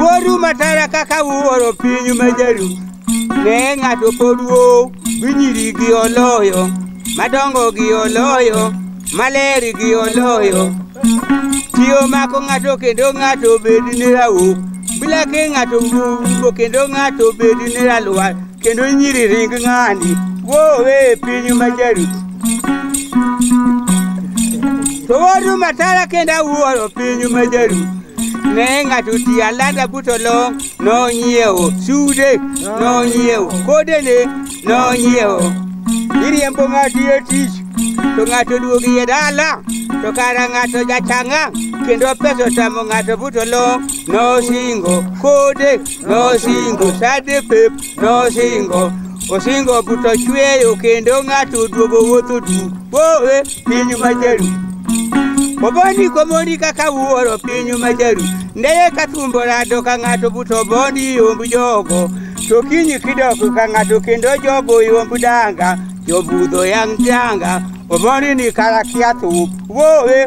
Wuoru matara kaka wuoro piny majaru ne ng'ato poduo gi nyiri gi oloyo madongo gi oloyo maler gi oloyo tiyo mako ng'ato kendo ng'ato bed ni rauk bila ke ng'ato wuo kendo ng'ato bed ni ralwar kendo nyiri ring ng'ani wowe e piny majaru to wodu matara kendo awuoro piny majaru ne ng'ato ti alada buto long nonyiewo sude nonyiewo kodene nonyiewo iriembo ng'ato e tich to ng'ato duogi e dala to kara ng'ato jachanga kendo pesa otamo ng'ato buto long nosingo kode Nosingo sade pep, nosingo osingo buto chweyo kendo ng'ato oduogo wuotho du wowe piny majaru oboni komoni kaka wuoro piny majaru ndeye ka thumbo rado ka ng'ato buto boni yomb jogo to kinyi kidoko ka ng'ato kendo jogo yomb danga jobudho yang' danga oboni ni karakia thup wowe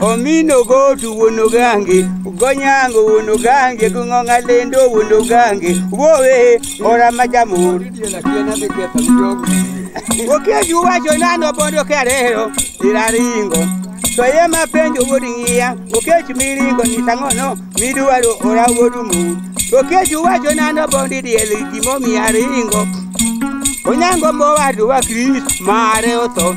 omino gotu wuono gange gonyango wuono gange gong'ong'a lendo wuono gange wowe ora ma jamur okeju wacho nano bondo kerero iraringo to ye ma penjo wuod ng'iya okech miringo ni tang'ono midwaro ora wuod mur okeju wacho nano bondi diel gimomiya ringo onyango mowadwa kris mare otho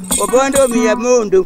Obondo omiya mondo.